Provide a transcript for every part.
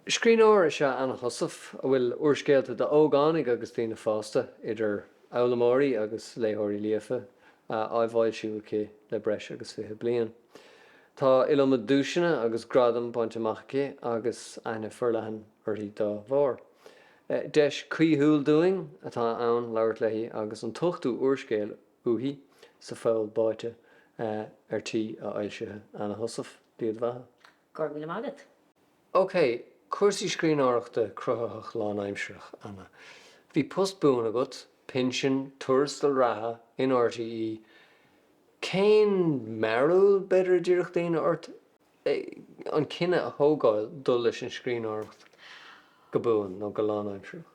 Scríbhneoir is ea Anna Heussaff a bhfuil úrscéalta d'ógánaigh agus daoine fásta, idir fhoghlaimeoirí agus léitheoirí líofa, á bhfoilsiú aici le breis agus fiche bliain. Tá iliomad duaiseanna agus gradam bainte amach aici agus aithne forleathan uirthi dá bharr. Deis chaoithiúil dúinn atá ann labhairt léi agus an t-ochtú úrscéal uaithi, Sa Pholl Báite, ar tí a fhoilsithe. Anna Heussaff, Dia do Bheatha. Go raibh míle maith agat. OK, cúrsaí scríbhneoireachta cruthaitheach lánaimseartha, Anna. Bhí post buan agat, pinsean, tuarastal reatha, in RTÉ. Cén mearbhall, b'fhéidir, a déarfadh daoine, ort an cinneadh a thógáil dul leis an scríbhneoireacht go buan nó go lánaimseartha?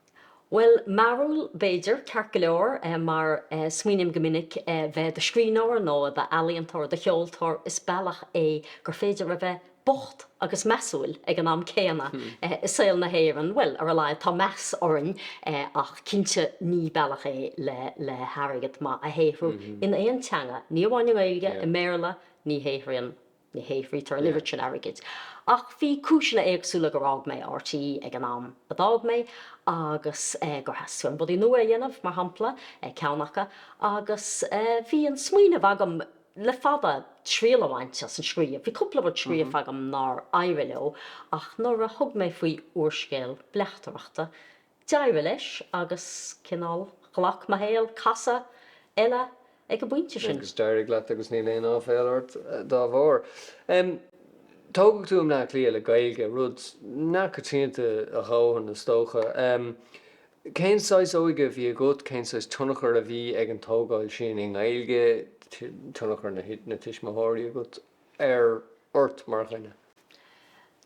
Bhuel, mearbhall, b'fhéidir, ceart go leor, mar smaoiním go minic bheith i do scríbhneoir nó i d'ealaíontóir, do cheoltóir, is bealach é gur féidir a bheith bocht agus measúil ag an am céanna i saol na hÉireann, bhuel, ar a laghad, tá meas orainn, ach cinnte ní bealach é le hairgead maith a shaothrú in aon teanga, ní amháin i nGaeilge, i mBéarla, ní shaothraíonn. Ní shaothraítear an oiread sin airgid. Ach bhí cúiseanna éagsúla gur fhág mé RTÉ ag an am a d'fhág mé agus gur theastaigh uaim rudaí nua a dhéanamh, mar shampla, ceann acu. Agus bhí an smaoineamh agam le fada triail a bhaint as an scríobh. Bhí cúpla rud scríofa agam nár éirigh leo ach nuair a thug mé faoi úrscéal bleachtaireachta, D'éirigh leis agus, cineál, ghlac mo shaol casadh eile ag an bpointe sin. Agus d'éirigh leat agus níl aon áiféal ort dá bharr. Tógadh tú i mBleá Cliath le Gaeilge, rud nach raibh coitianta a dhóthain is dócha. Cén saghas óige a bhí agat, cén saghas tionchar a bhí ag an tógáil sin i nGaeilge, tionchar na tuismitheoirí agat? ar ort mar dhuine.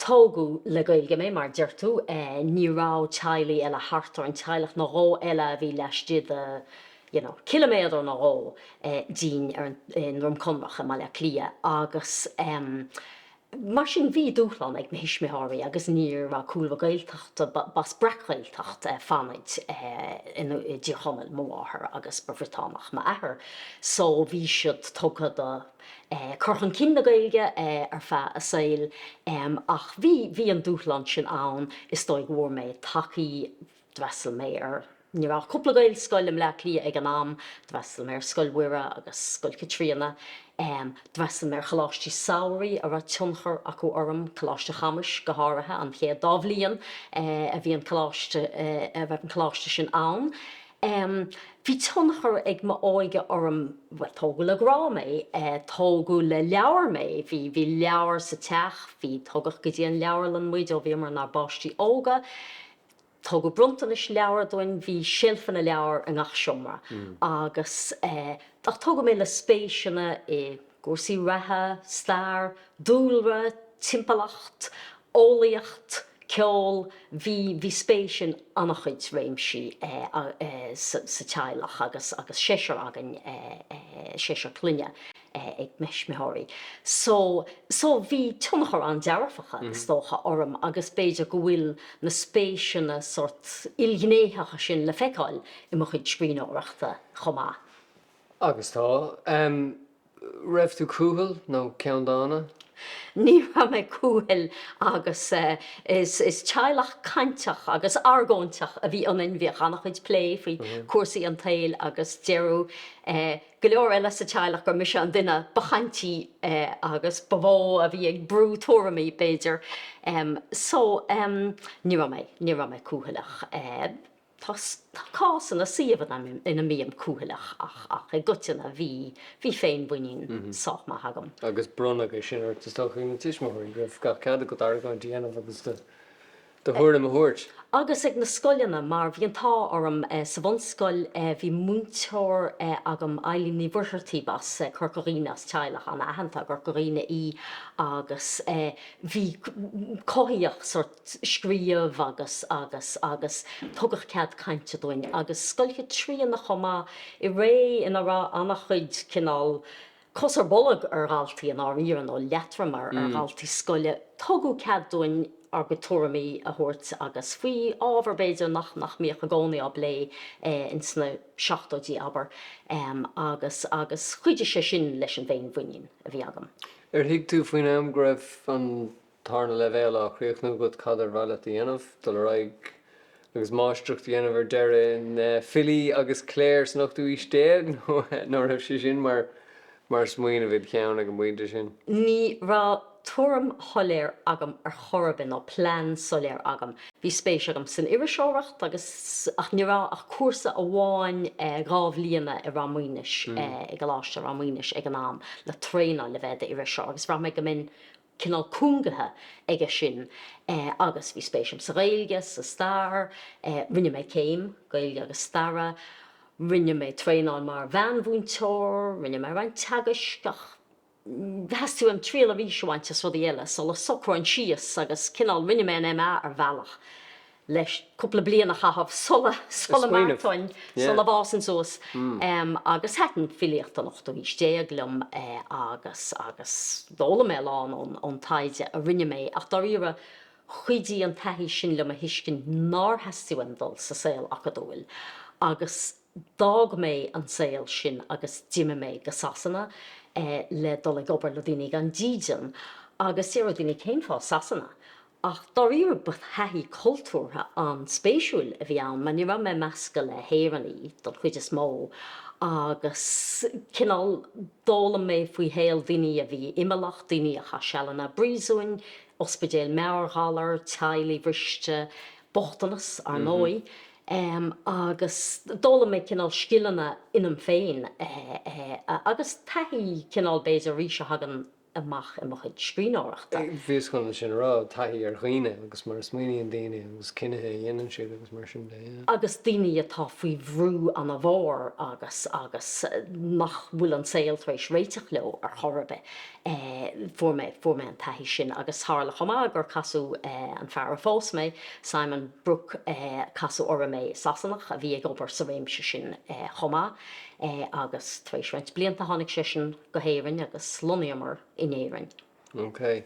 Tógadh le Gaeilge mé, mar deir tú. Ní raibh teaghlaigh eile thart orainn, teaghlach nó dhó eile a bhí laistigh de you know ciliméadar nó dhó dínn i nDroim Conrach i mBaile Átha Cliath agus em mar sin bhí dúshlán ag mo thuismitheoirí agus ní raibh cúlra Gaeltachta, b'as Breac-Ghaeltacht Fhánaid i dTír Chonaill mo mháthair agus ba Bhriotánach m'athair so bhí siad tugtha do. cur chun cinn na Gaeilge ar feadh a saoil ach bhí, bhí an dúshlán sin ann is dóigh go bhfuair mé tacaí, d'fhreastail mé ar, ní raibh ach cúpla Gaelscoil i mBleá Cliath ag an am, d'fhreastail mé ar Scoil Mhuire agus Scoil Chaitríona, d'fhreastail mé ar choláistí samhraidh a raibh tionchar acu orm, Coláiste Chamuis go háirithe, an chéad dá bhliain a bhí an coláiste, a raibh an coláiste sin ann. em bhí tionchar ag m'óige orm bhuel tógadh le grá mé eh tógadh le leabhair mé bhí bhí leabhair sa teach bhí tugadh go dtí an leabharlann muid ó bhíomar inár bpáistí óga tugadh bronntanais leabhar dúinn bhí seilfeanna leabhar i ngach seomra agus eh ach tógadh mé le spéiseanna i gcúrsaí reatha, stair, dúlra, timpeallacht, eolaíocht, ceol, bhí bhí spéis in an-chuid réimsí sa teaghlach agus agus seisear againn, seisear clainne ag mo thuismitheoirí, so so bhí tionchar an-dearfach, is dócha, orm agus b'fhéidir go bhfuil na spéiseanna sórt ilghnéitheacha sin le feiceáil i mo chuid scríbhneoireachta chomh maith. Agus tá. An raibh tú cúthail nó ceanndána? Ní raibh mé cúthail agus is teaghlach cainteach agus argóinteach a bhí ionainn. Bhíodh an-chuid plé faoi chúrsaí an tsaoil agus déarfadh go leor eile sa teaghlach gur mise an duine ba chaintí agus ba mhó a bhí ag brú tuairimí, b'fhéidir. So, em, ní raibh mé, ní raibh mé cúthaileach. Tá cásanna, suíomhanna ina mbím cúthaileach ach i gcoitinne bhí féinmhuinín sách maith agam. Agus bronnadh é sin ort, is dócha, ag na tuismitheoirí, go raibh gach cead agat argóint a dhéanamh agus do thuairim a thabhairt. Agus ag na scoileanna, mar bhí an t-ádh orm sa bhunscoil, bhí múinteoir agam, Eibhlín Ní Mhuircheartaigh, b'as Corca Dhuibhne, as teaghlach an-aitheanta i gCorca Dhuibhne í agus bhí, cothaíodh sórt, Scríobh agus agus agus tugadh cead cainte dúinn, agus Scoil Chaitríona chomh maith, i ré ina raibh an-chuid, cineál, cos ar bolg ar dhaltaí, i ndáiríre, nó leatrom ar dhaltaí scoile. Tugadh cead dúinn ár gcuid tuairimí a thabhairt agus faoi ábhair, b'fhéidir, nach nach mbíodh i gcónaí á bplé in sna seachtóidí, abair. Agus agus chuidigh sé sin leis an bhféinmhuinín a bhí agam. Ar thuig tú faoin am go raibh an Ard Tarna leibhéal á chríochnú agat, cad ar mhaith leat a dhéanamh? Dul ar aghaidh agus máistreacht a dhéanamh ar deireadh in Filí agus Cléir san Ochtú Aois Déag? Nó an raibh sé sin mar smaoineamh id cheann ag an bpointe sin? Ní raibh tuairim shoiléir agam ar chor ar bith, nó plean soiléir agam. Bhí spéis agam san iriseoireacht agus, ach ní raibh ach cúrsa amháin dhá bhliana i Ráth Maonais, i gColáiste Ráth Maonais ag an am, le traenáil le bheith i d'iriseoir agus bhraith mé go mbeinn cineál cúngaithe aige sin agus bhí spéis agam sa Ghaeilge, sa stair, rinne mé céim, Gaeilge agus Staire, rinne mé traenáil mar mheánmhúinteoir, rinne mé roinnt teagaisc ach theastaigh uaim triail arís a bhaint as rudaí eile sula socróinn síos agus cineál rinne mé an MA ar bhealach. leis cúpla bliain a chaitheamh, sula sula mar a déarfainn sula bhfásfainn suas agus thaitin filíocht an ochtú haois déag liom agus agus d'fhoghlaim mé a lán ón ón taighde a rinne mé ach dáiríre chuidigh an taithí sin liom a thuiscint nár theastaigh uaim dul sa saol acadúil agus d'fhág mé an saol sin agus d'imigh mé go Sasana le dul ag obair le daoine gan dídean agus déarfadh daoine cén fáth Sasana? Ach dáiríre ba thaithí cultúrtha an-spéisiúil a bhí ann mar ní raibh mé measctha le hÉireannaigh don chuid is mó agus cineál d'fhoghlaim mé faoi shaol daoine a bhí imeallach, daoine a chaith sealanna i bpríosúin, ospidéil meabhairghalar, teaghlaigh bhriste, bochtanas, ar ndóigh, agus d'fhoghlaim mé cineál scileanna ionam féin agus taithí cineál b'fhéidir arís a thagann amach i mo chuid scríbhneoireachta. Bhíos chun sin a rá, taithí ar dhaoine agus mar a smaoiníonn daoine agus cinntí a dhéanann siad agus mar sin de. agus daoine atá faoi bhrú an-mhór agus agus nach bhfuil an saol tar éis réiteach leo ar chor ar bith. Fuair mé, fuair mé an taithí sin agus tharla chomh maith gur casadh an fear a phós mé, Simon Brooke, casadh orm é, Sasanach a bhí ag obair sa réimse sin chomh maith agus tar éis roinnt blianta tháinig seisean, go hÉirinn agus lonnaíomar in Éirinn. OK.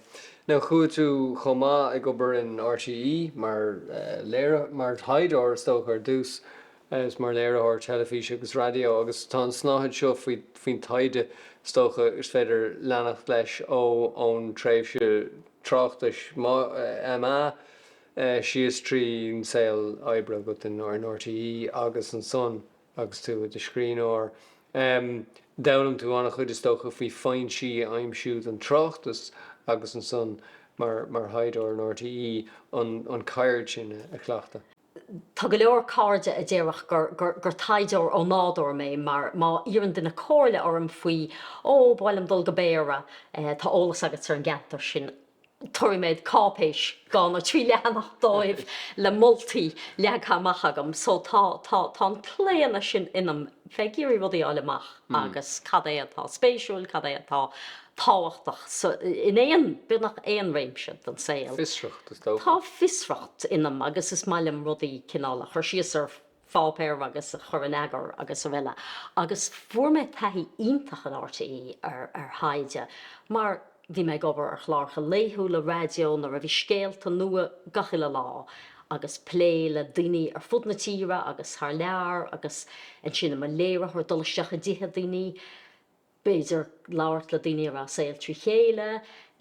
Now chuaigh tú chomh maith ag obair in RTÉ mar léir, mar thaighdeoir is dócha ar dtús agus mar léiritheoir teilifíse agus raidió agus tá an snáithe seo faoin taighde is dócha is féidir leanacht leis ó ón tréimhse tráchtais MA síos tríd an saol oibre agat in RTÉ agus ansan Agus tú i do scríbhneoir, d'fhoghlaim tú an-chuid, is dócha, faoi foinsí a aimsiú don tráchtas agus ansan, mar thaighdeoir in RTÉ, an cheird sin a chleachtadh. Tá go leor cairde a déarfadh gur taighdeoir ó nádúr mé mar má iarrann duine comhairle orm faoi, ó, ba mhaith liom dul go Béarra, tá eolas agat ar an gceantar sin. tabharfaidh mé cáipéis dhá nó trí leathanach dóibh le moltaí leagtha amach agam. So tá, tá, tá an claonadh sin ionam, bheith ag iarraidh rudaí a fháil amach agus cad é atá spéisiúil, cad é atá tábhachtach sa, in aon, beagnach aon réimse den saol. Fiosracht is dócha. Tá fiosracht ionam agus is maith liom rudaí cineál a chur síos ar. pháipéar agus a chur in eagar agus araile agus fuair mé taithí iontach in RTÉ ar thaighde mar bhí mé ag obair ar chláracha laethúla raidió nuair a bhí scéalta nua gach uile lá agus plé le daoine ar fud na tíre agus thar lear agus ansin i mo léiritheoir dul isteach i dtithe daoine b'fhéidir, labhairt le daoine a raibh a saol trí chéile,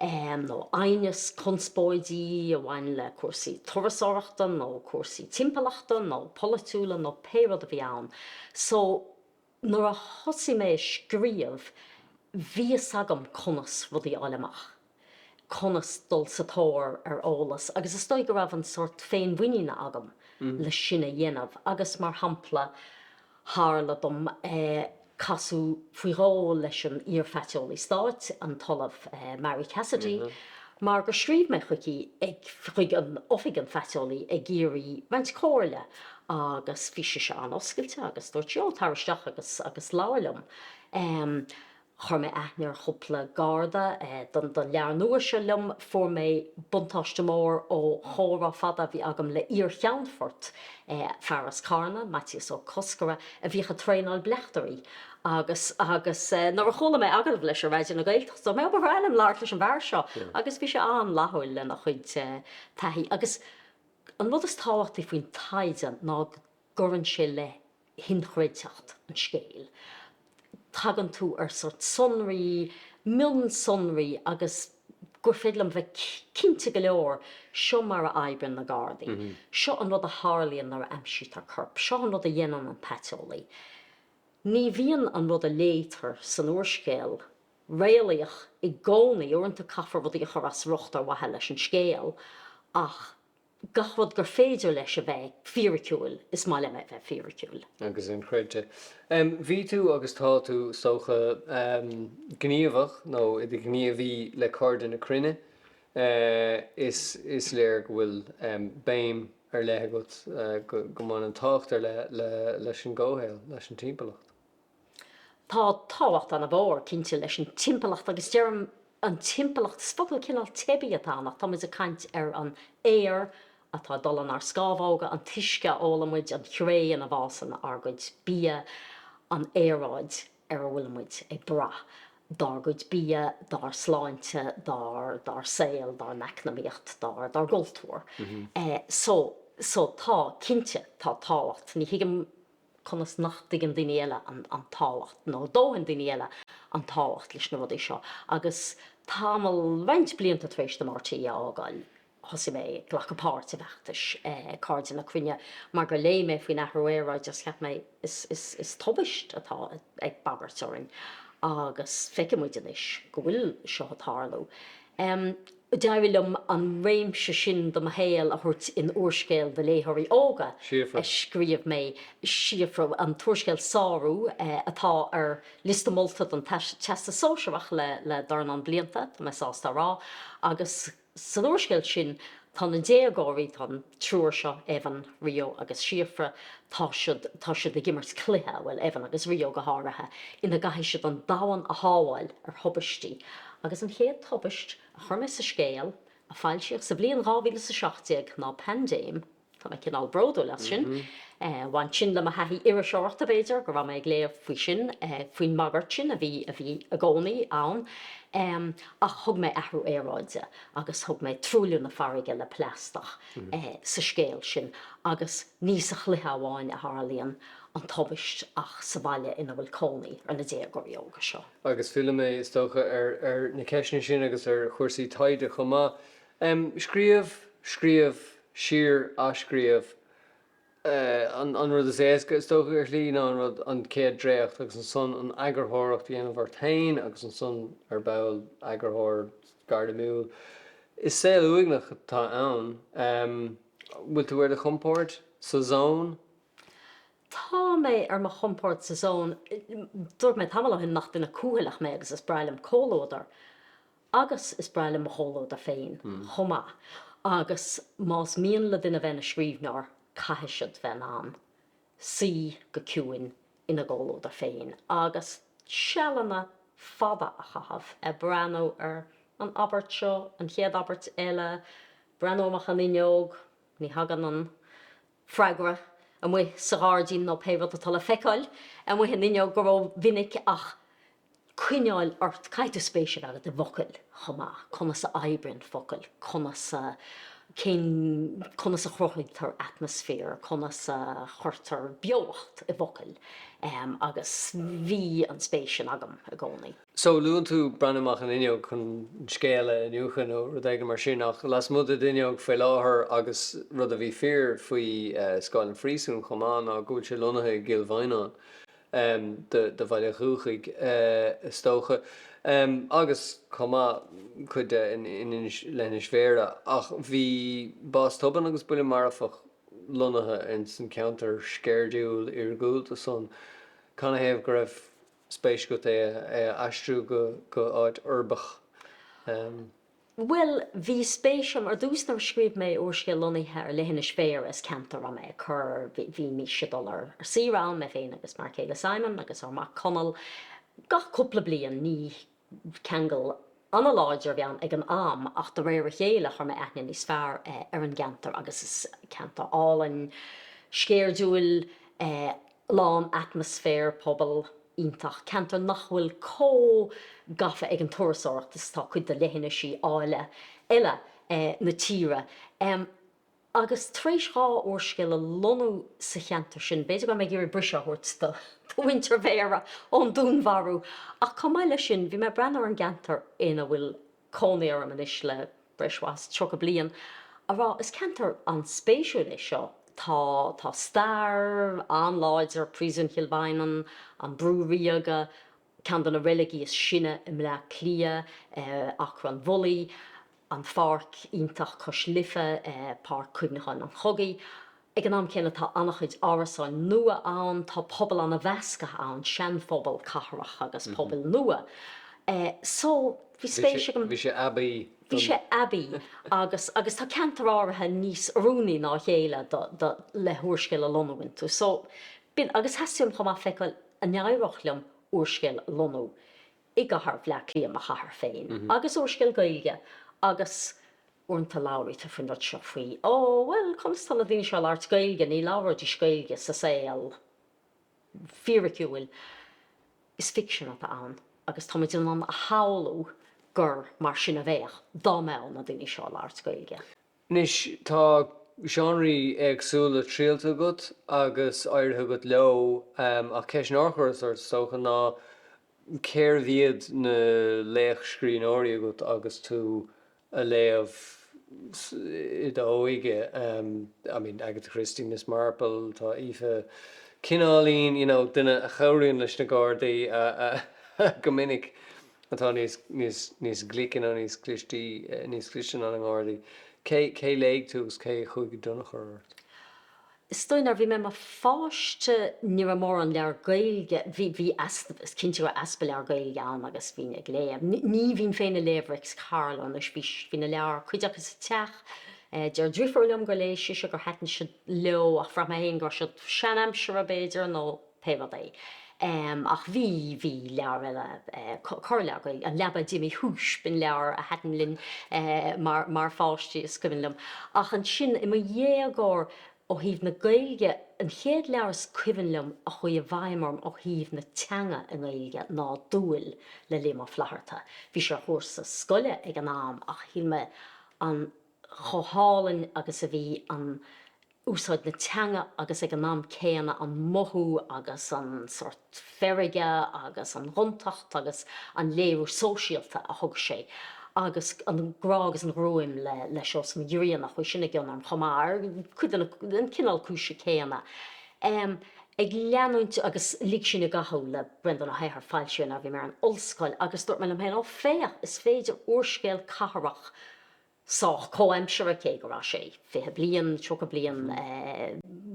nó aighneas, conspóidí a bhain le cúrsaí turasóireachta nó cúrsaí timpeallachta nó polaitiúla nó pé rud a bhí ann. So, nuair a thosaigh mé ag scríobh, bhí a fhios agam conas rudaí a fháil amach. conas dul sa tóir ar eolas agus is dóigh go raibh an sórt féinmhuiníne agam leis sin a dhéanamh agus mar shampla tharla dom casadh faoi dhó leis an iar-phaiteolaí stáit, an tOllamh Marie Cassidy, mar gur scríobh mé chuici chuig Oifig an Phaiteolaí ag iarraidh roinnt comhairle agus bhí sise an-oscailte agus dúirt sí 'ó, tar isteach agus labhair liom'. Chuir mé aithne ar chúpla Garda don leabhar nua seo liom. Fuair mé buntáiste mór ó chomhrá fada a bhí agam le iar-cheannfort fear as Carna, Maitias Ó Cosgora, a bhíodh ag traenáil bleachtairí agus agus nuair a chuala mé agallamh leis ar Raidió na Gaeltachta, cheap mé, ó ba bhreá liom labhairt leis an bhfear seo agus bhí sé an-fhlaithiúil lena chuid taithí. Agus an rud is tábhachtaí faoin taighde ná go. gcuireann sé le hinchreidteacht an scéil. Tagann tú ar sórt sonraí, mionsonraí agus gur féidir liom bheith cinnte go leor, seo mar a oibríonn na Gardaí, seo an rud a tharlaíonn nuair a aimsítear corp, seo an rud a dhéanann an paiteolaí. Ní bhíonn an rud a léitear san úrscéal réalaíoch i gcónaí, uaireanta caithfear rudaí a chur as riocht ar mhaithe leis an scéal ach gach rud gur féidir leis a bheith fíriciúil, is maith liom é a bheith fíriciúil. agus inchreidte. Bhí tú, agus tá tú, is dócha, gníomhach nó i do ghníomhaí le Cairde na Cruinne. Is léir go bhfuil béim ar leith agat go mbaineann tábhacht ar leith leis an gcomhshaol, leis an timpeallacht. Tá tábhacht ana-mhór, cinnte, leis an timpeallacht agus deirim an timpeallacht, is focal cineál teibí atá ann ach tá muid ag caint ar an aer atá ag dul in ár scámhóga, an t-uisce a ólann muid, an chré ina bhfásann ár gcuid bia, an aeráid ar a bhfuil muid ag brath dár gcuid bia, dár sláinte, dár dár saol, dár n-eacnamaíocht, dár dár gcultúr. Eh, so, so, tá, cinnte, tá tábhacht, ní thuigim, conas nach dtuigeann daoine eile an tábhacht, nó dóthain daoine eile, an tábhacht leis na rudaí seo. Agus tamall, roinnt blianta tar éis dom RTÉ a fhágáil, thosaigh mé ag glacadh páirt i bhfeachtais Chairde na Cruinne mar gur léigh mé faoin athrú aeráide agus cheap mé, is tubaist atá ag bagairt orainn agus feiceann muid anois go bhfuil seo ag tarlú. D'éirigh liom an réimse sin de mo shaol a thabhairt in úrscéal do léitheoirí óga a scríobh mé, Síofra, an t-úrscéal Sárú, atá ar liosta molta don Teastas Sóisearach le dornán blianta, tá mé sásta a rá, agus san úrscéal sin tá na déagóirí, tá an. triúr seo, Evan, Rio agus Síofra, tá siad, tá siad ag imirt cluiche, bhuel, Evan agus Rio go háirithe, ina gcaithfidh siad an domhan a shábháil ar thubaistí. Agus an chéad tubaist a chuir mé sa scéal, a foilsíodh sa bhliain dhá mhíle is a seacht déag, ná paindéim. Tá mé cineál bródúil as sin. Bhain sin le mo thaithí iriseoireachta, b'fhéidir, go raibh mé ag léamh faoi sin, faoin mbagairt sin a bhí, a bhí i gcónaí ann. Ach thug mé athrú aeráide. agus thug mé truailliú na farraige le plaisteach sa scéal sin agus ní sa chluiche amháin a tharlaíonn an tubaist ach sa bhaile ina bhfuil cónaí ar na déagóirí óga seo. Agus fillfidh mé, is dócha, ar na ceisteanna sin agus ar chúrsaí taighde chomh maith. Scríobh, scríobh, siar athscríobh. An rud is éasca ar shlí, ná an rud, an chéad dréacht, agus ansan an eagarthóireacht a dhéanamh ort féin, agus ansan, ar ball, eagarthóir gairimiúil. Is saol uaigneach atá ann. Bhfuil tú ar do chompord? Sa zón? Tá mé ar mo chompord sa zón. Dúirt mé tamall ó shin nach duine cúthaileach mé agus is breá liom comhluadar. Agus is breá liom mo chomhluadar féin chomh maith, agus más mian le duine bheith ina scríbhneoir, caithfidh siad bheith in ann suí go ciúin ina gcomhluadar féin agus sealanna fada a chaitheamh ag breathnú ar an abairt seo, an chéad abairt eile, breathnú amach an fhuinneog, ní thagann an. freagra, amuigh sa ghairdín nó pé rud atá le feiceáil amuigh an fhuinneog, go rómhinic ach coinneáil ort, caithfidh tú spéis a bheith agat i bhfocail chomh maith, conas a oibríonn focail, conas a, cén, conas a chruthaítear atmaisféar, conas a chuirtear beocht i bhfocail. Agus bhí an spéis sin agam i gcónaí. so luann tú breathnú amach an fhuinneog chun scéal a iniúchadh nó rud éigin mar sin ach lasmuigh den fhuinneog faoi láthair agus rud a bhí fíor faoi scáil an phríosúin chomh maith ná go bhfuil sé lonnaithe i gCill Mhaighneáin, do bhaile dhúchais is dócha, agus chomh maith cuid de in Inis, leithinis Bhéarra ach bhí bás tobann agus buille marfach lonnaithe ins an cheantar sceirdiúil iargúlta san. Canathaobh go raibh. spéis agat é a aistriú go áit uirbeach? Bhuel, bhí spéis agam, ar dtús nuair a scríobh mé úrscéal lonnaithe ar leithinis Bhéarra, is ceantar a raibh mé ag cur, bhí mise ag dul ar saoire ann, mé féin agus m'fhear céile Simon agus ár mac Conall, gach cúpla bliain, ní. Ní ceangal an-láidir a bhí ann ag an am ach de réir a chéile chuir mé aithne níos fearr ar an gceantar agus is ceantar álainn, sceirdiúil, lán atmaisféar pobail iontach, ceantar nach bhfuil chomh gafa ag an turasóireacht is atá cuid de leithinisí áille eile na tíre. agus tar éis dhá úrscéal a lonnú sa cheantar sin, b'fhéidir go raibh mé ag iarraidh briseadh a thabhairt do mhuintir Bhéarra ón dúnmharú, ach chomh maith leis sin, bhí mé ag breathnú ar an gceantar ina bhfuil cónaí orm anois le breis mhaith is tríocha bliain, a rá, is ceantar an-spéisiúil é seo, tá, tá stair an-láidir, Príosún Chill Mhaighneann, an Brú Ríoga, Ceann de na reiligí is sine i mBleá Cliath, Acra an Bhulaí, an pháirc iontach cois Life, Páirc Cuimhneacháin an Chogaidh. Ag an am céanna tá an-chuid árasáin nua ann, tá pobal an-mheasctha ann, seanphobal cathrach agus pobail nua. So, bhí spéis ag an. Bhí sé aibí don. Bhí sé aibí agus agus tá ceantair áirithe níos oiriúnaí ná a chéile do le húrscéal a lonnú iontu. So, b'in, agus theastaigh uaim chomh maith feiceáil. An éireodh liom úrscéal a lonnú i gcathair Bhleá Cliath, mo chathair féin, agus úrscéal Gaeilge agus. uaireanta labhraítear faoin rud seo faoi, Ó, bhuel, conas tá na daoine seo ag labhairt Gaeilge, ní labhróidís Gaeilge sa saol fíriciúil. Is ficsean atá ann agus tá muid in ann a shamhlú gur mar sin a bheadh dá mbeadh na daoine seo ag labhairt Gaeilge. Anois tá seánraí éagsúla triailte agat agus éirithe agat leo ach ceist nár chuireas ort, is dócha, ná cérbh iad na laochscríbhneoirí agat agus tú ag léamh i d'óige, I mean, Agatha Christie, Miss Marple, tá Aoife cineáilín, you know, duine a chabhraíonn leis na Gardaí go minic. atá níos, níos, níos glice nó níos clistí, níos cliste ná na Gardaí. Cé, cé léigh tú agus cé a chuaigh i dtionchar ort? Is dóigh nuair a bhí mé i mo pháiste ní raibh mórán leabhar Gaeilge, bhí, bhí easpa, is cinnte go raibh easpa leabhar Gaeilge ann agus bhínn ag léamh, ní, ní bhínn féin ag léamh Réics Carló anois, bhí, bhí na leabhair, cuid acu sa teach, deir driofúr liom gur léigh sise, gur thaitin siad leo ach bhraith mé féin go raibh siad seanaimseartha b'fhéidir nó. pé rud é. Ach bhí, bhí leabhar eile, corrleabhar Gaeilge, An Leaba D'imigh Shúis, b'in leabhar a thaitin linn mar, mar pháistí, is cuimhin liom. Ach ansin, i mo dhéagóir, ó thaobh na Gaeilge, an chéad leabhar is cuimhin liom a chuaigh i bhfeidhm orm ó thaobh na teanga i nGaeilge ná Dúil le Liam Ó Flaithearta. Bhí sé ar chúrsa scoile ag an am ach shíl mé an, chomh hálainn agus a bhí an, úsáid na teanga agus ag an am céanna an mothú agus an sórt feirge agus an ghontacht agus an léiriú sóisialta a thug sé agus an grá agus an ghruaim le le Seosamh Mac Grianna. Chuaigh sin i gcion orm chomh maith ar cuid de na an cineál cúise céanna. Em Ag leanúint agus Lig Sinn i gCathú le Breandán Ó hEithir foilsíodh é nuair a bhí mé ar an ollscoil agus dúirt mé liom féin, 'Ó féach, is féidir úrscéal cathrach, sách comhaimseartha, cé go raibh sé fiche bliain, tríocha bliain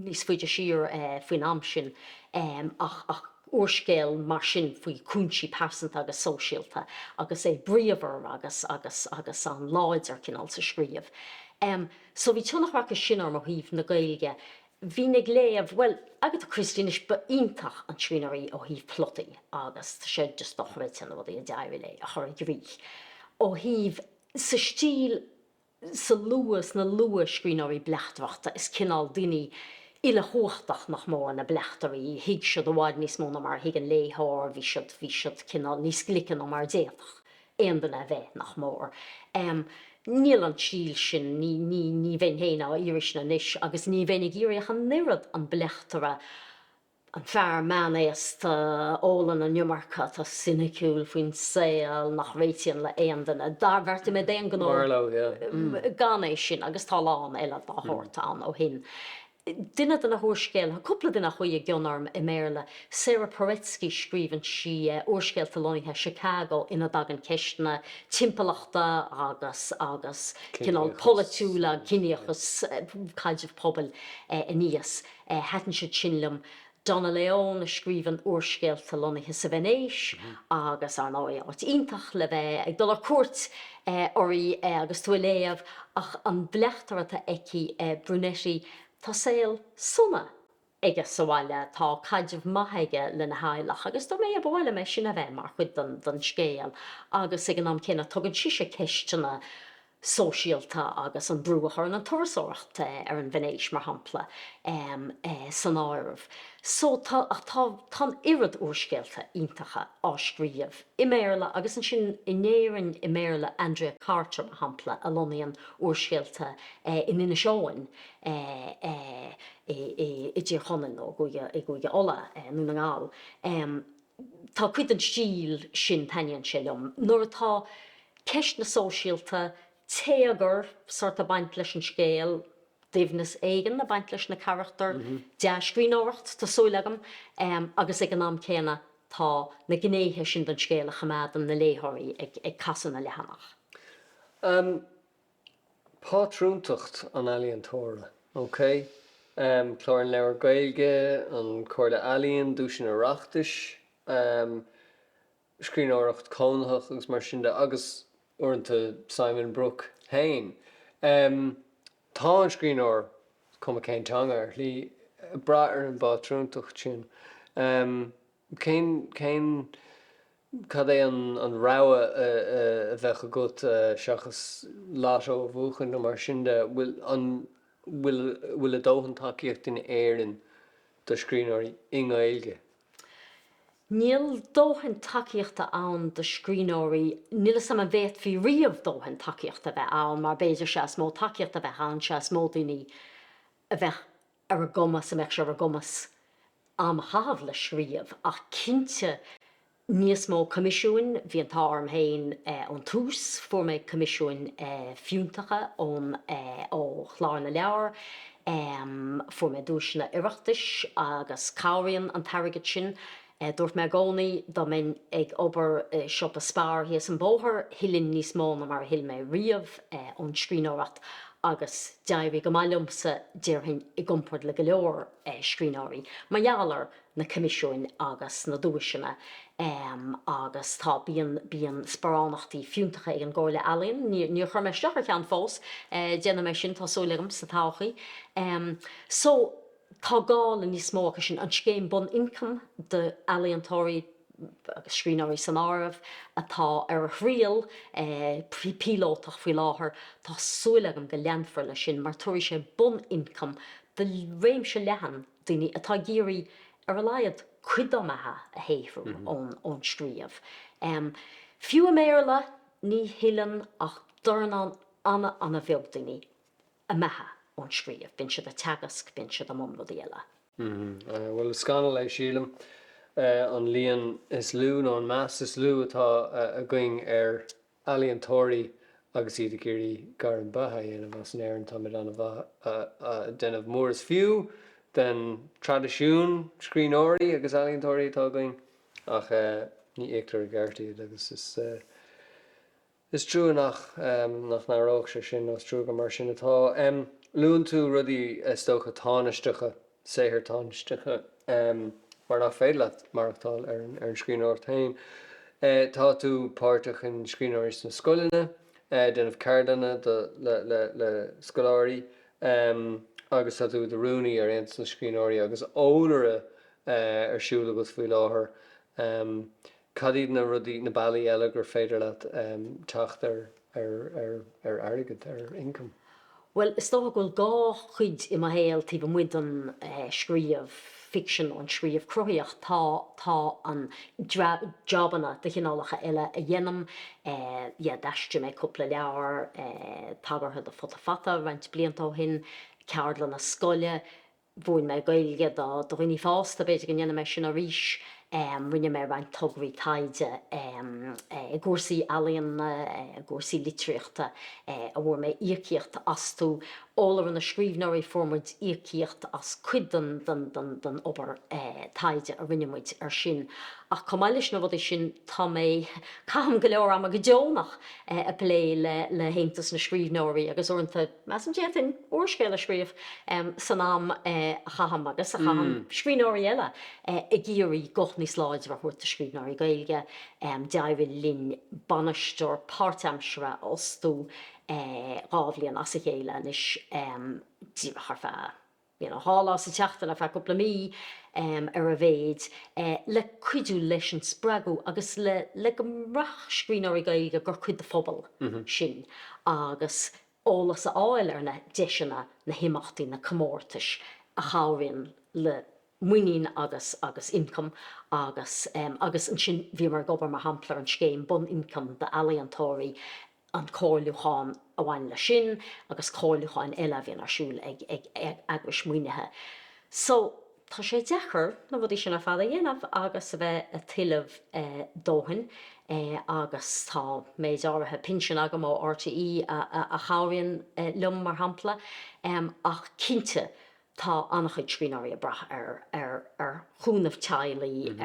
níos faide siar faoin am sin, ach úrscéal mar sin faoi chúinsí pearsanta agus sóisialta agus é bríomhar agus, agus, agus an-láidir, cineál, sa scríobh. So bhí tionchar acu sin orm ó thaobh na Gaeilge. Bhínn ag léamh, bhuel, Agatha Christie, anois ba iontach an scríbhneoir í ó thaobh plotaí agus tá sé just dochreidte na rudaí a d'éirigh léi a chur i gcrích. Ó thaobh sa stíl, sa lua, sna luathscríbhneoirí bleachtaireachta, is cineál daoine uilechumhachtach nach mór na bleachtairí, thuig siad i bhfad níos mó ná mar a thuig an léitheoir, bhí siad, bhí siad cineál níos glice ná mar a d'fhéadfadh aon duine a bheith, nach mór. Níl an stíl sin, ní, ní, ní bheinn féin á iarraidh sin anois agus ní bheinn ag iarraidh ach an oiread an bleachtaire a An fear meánaosta a ólann an iomarca, atá soiniciúil faoin saol, nach réitíonn le haon duine, do bheartaigh mé d'aon ghnó gan é sin agus tá a lán eile dá shórt ann ó shin. Duine de na húrscéalaithe, cúpla duine a chuaigh i gcion orm i mBéarla, Sara Paretsky, scríobhann sí úrscéalta lonnaithe i Chicago ina dtagann ceisteanna timpeallachta agus cineál polaitiúla, ciníochas, caidreamh pobail aníos. Thaitin siad sin liom. Donna Leon a scríobhann úrscéalta lonnaithe sa Veinéis agus, ar ndóigh, áit iontach le bheith ag dul ar cuairt uirthi agus tú ag léamh ach an bleachtaire atá aici, Brunetti, tá saol sona aige sa bhaile, tá caidreamh maith aige lena theaghlach agus dom, ba mhaith liom é sin a bheith mar chuid den scéal agus, ag an am céanna, tugann sise ceisteanna sóisialta agus an brú a chuireann an turasóireacht ar an Veinéis, mar shampla, san áireamh. So tá, tá, tá an oiread úrscéalta iontacha á scríobh i mBéarla agus ansin in Éirinn i mBéarla, Andrea Carter, mar shampla, a lonnaíonn úrscéalta in Inis Eoghain i i i dTír Chonaill nó i gCúige Uladh i nDún na nGall. Tá cuid den stíl sin, taitníonn sé liom, nuair atá ceisteanna sóisialta, téagar sórt ag baint leis an scéal, doimhneas éigin ag baint leis na carachtair, dea-scríbhneoireacht, tá súil agam, agus ag an am céanna tá na gnéithe sin den scéal a choimeádann na léitheoirí ag casadh na leathanach. pátrúntacht an ealaíontóra. OK. Clár an Leabhar Gaeilge, an Chomhairle Ealaíon, Duaiseanna Oireachtais, scríbhneoireacht chónaitheach agus mar sin de agus uaireanta Simon Brooke féin. Tá an scríbhneoir, is cuma cén teanga, ar shlí, ag brath ar an bpátrúntacht sin. Cén. Cad é an rogha a bheadh agat seachas lotto a bhuachan nó mar sin de? An bhfuil a dóthain tacaíochta in Éirinn do scríbhneoirí i nGaeilge? Níl dóthain tacaíochta ann do scríbhneoirí, níl 'fhios a'm an bhféadfaí riamh dóthain tacaíochta a bheith ann mar b'fhéidir sea is mó tacaíochta a bheadh ann sea is mó daoine a bheadh ar a gcumas, a mbeadh sé ar a gcumas am a chaitheamh le scríobh ach cinnte níos mó coimisiúin, bhí an t-ádh orm féin ón tús, fuair mé coimisiúin fiúntacha ón, ó Chlár na Leabhar, fuair mé duaiseanna Oireachtais agus cabhraíonn an t-airgead sin. Dúirt mé i gcónaí dá mbeinn ag obair i siopa Spar thíos an bóthar, thuillinn níos mó ná mar a thuill mé riamh ón scríbhneoireacht agus d'éirigh go maith liomsa, déarfainn, i gcomparáid le go leor scríbhneoirí, mar gheall ar na coimisiúin agus na duaiseanna agus tá, bíonn, bíonn sparánachtaí fiúntacha ag an gComhairle Ealaíon. Níor chuir mé isteach ar cheann fós, déanfaidh mé sin, tá súil agam, sa todhchaí. So. tá gá le níos mó acu sin, an scéim bun-ioncaim d'ealaíontóirí agus scríbhneoirí san áireamh, atá ar a thriail píolótach faoi láthair, tá súil agam go leanfar leis sin mar tabharfaidh sé bun-ioncam do réimse leathan daoine atá ag iarraidh ar a laghad cuid dá mbeatha a shaothrú ón scríobh. Fiú i mBéarla, ní thuilleann ach dornán ana-ana-bheag daoine a mbeatha ón scríobh. Bíonn siad ag teagasc, bíonn siad i mbun rudaí eile. Mh, bhuel, is scannal é, sílim, an líon is lú nó an meas is lú atá againn ar ealaíontóirí agus iad ag iarraidh gairm beatha a dhéanamh as. In Éirinn táimid an-mhaith ag déanamh mór is fiú den traidisiún scríbhneoirí agus ealaíontóirí atá againn ach ní íoctar i gceart iad agus is, Is trua nach n-athródh sé sin, nó is trua gur mar sin atá. Luann tú rudaí, is dócha, tánaisteacha, saothair thánaisteacha, mar nach féidir leat maireachtáil ar an scríbhneoireacht féin. Tá tú páirteach in Scríbhneoirí sna Scoileanna, ag déanamh ceardlanna le scoláirí agus tá tú i do rúnaí ar Aontas na Scríbhneoirí agus eolaire ar siúl agat faoi láthair. Cad iad na rudaí, na bealaí eile gur féidir leat teacht ar airgead, ar income? Bhuel, is dócha go bhfuil dhá chuid i mo shaol taobh amuigh den scríobh ficsean, an scríobh cruthaitheach. Tá, tá an, jobanna de chineálacha eile a dhéanaim, yeah, d'aistrigh mé cúpla leabhar tagartha do Futa Fata roinnt blianta ó shin, ceardlanna scoile, mhúin mé Gaeilge do dhaoine fásta, b'fhéidir go ndéanfaidh mé sin arís. Rinne mé roinnt tograí taighde i gcúrsaí ealaíona, i gcúrsaí litríochta a bhfuair mé íocaíocht astu. Eolaire na Scríbhneoirí, fuair muid íocaíocht as cuid den obair taighde a rinne muid air sin. Ach chomh maith leis na rudaí sin, tá mé, caithim go leor ama go deonach ag plé le hAontas na Scríbhneoirí agus uaireanta, Measaim, d'fhéadfainn úrscéal a scríobh san am a chaithim agus a chaitheann scríbhneoirí eile ag iarraidh guth níos láidre a thabhairt do scríbhneoirí Gaeilge. D'éirigh linn bainisteoir páirtaimseartha a fhostú dhá bhliain as a chéile anois, díreach ar feadh. dhá lá sa tseachtain, ar feadh cúpla mí ar a mhéid, le cuidiú leis an spreagadh agus le go mbraithfeadh scríbhneoirí Gaeilge gur cuid de phobal sinn agus eolas a fháil ar na deiseanna, na himeachtaí, na comórtais a chabhraíonn le muinín agus agus ioncam agus agus ansin bhíomar ag obair mar shampla ar an scéim bun-ioncaim d'ealaíontóirí, an comhairliúchán a bhain leis sin agus comhairliúcháin eile a bhíonn ar siúl ag eagrais maoinithe so tá sé deacair na rudaí sin ar fad a dhéanamh agus a bheith ag tuilleamh dóthain agus tá méid áirithe pinsin agam ó RTÉ a chabhraíonn liom mar shampla ach cinnte Tá an-chuid scríbhneoirí ag brath ar chúnamh teaghlaigh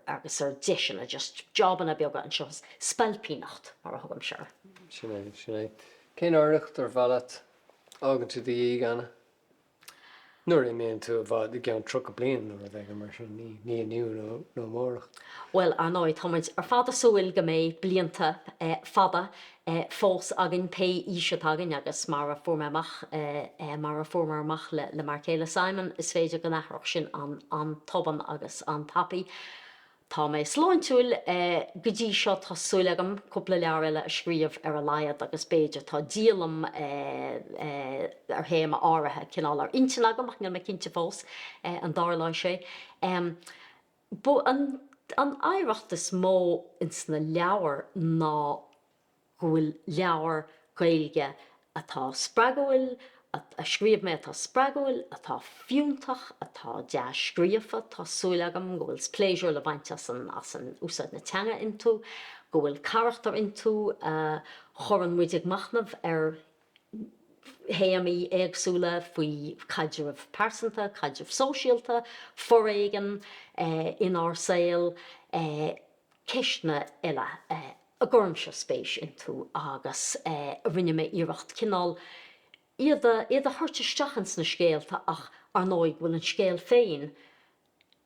agus ar dheiseanna, just jobanna beaga anseo, spailpíneacht mar a thugaimse air. Sin é, sin é. Cén oidhreacht ar mhaith leat a fhágann tú i do dhiaidh, Anna? Nuair a imíonn tú i bhfad, i gceann 30 bliain nó rud éigin mar sin, ní inniu nó amárach. Bhuel, ar ndóigh, tá muid ar fad ag súil go mbeidh blianta fada fós againn pé aois atá againn agus mar a fuair mé amach, mar a fuaireamar amach le m'fhear céile Simon, is féidir go n-athródh sin an-tobann agus an-tapaidh. Tá mé sláintiúil go dtí seo, tá súil agam cúpla leabhar eile a scríobh ar a laghad agus b'fhéidir, tá díolaim ar théama áirithe, cineál, ar intinn agam ach níl mé cinnte fós an dtarlóidh sé. B'í an oidhreacht is mó ins na leabhair ná go bhfuil leabhair Gaeilge atá spreagúil, a scríobh mé atá spreagúil, atá fiúntach, atá dea-scríofa, tá súil agam, go bhfuil pléisiúr le baint as úsáid na teanga iontu, go bhfuil carachtair iontu a chuireann muid ag machnamh ar théamaí éagsúla faoi caidrimh phearsanta, caidrimh shóisialta, foréigean inár saol, ceisteanna eile a gcuirimse spéis iontu agus a rinne mé iarracht cineál iad a thabhairt isteach ins na scéalta ach, ar ndóigh, go bhfuil an scéal féin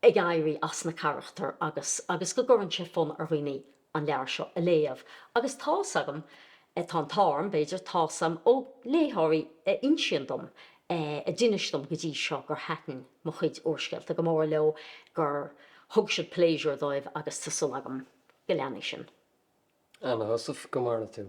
ag éirí as na carachtair agus agus go gcuireann sé fonn ar dhaoine an leabhar seo a léamh agus tá's agam, tá an t-ádh orm, b'fhéidir, tá's agam ó léitheoirí a insíonn dom, a d'inis dom go dtí seo gur thaitin mo chuid úrscéalta go mór leo, gur thug siad pléisiúr dóibh agus tá súil agam go leanfaidh sin. Anna Heussaff, go maire tú.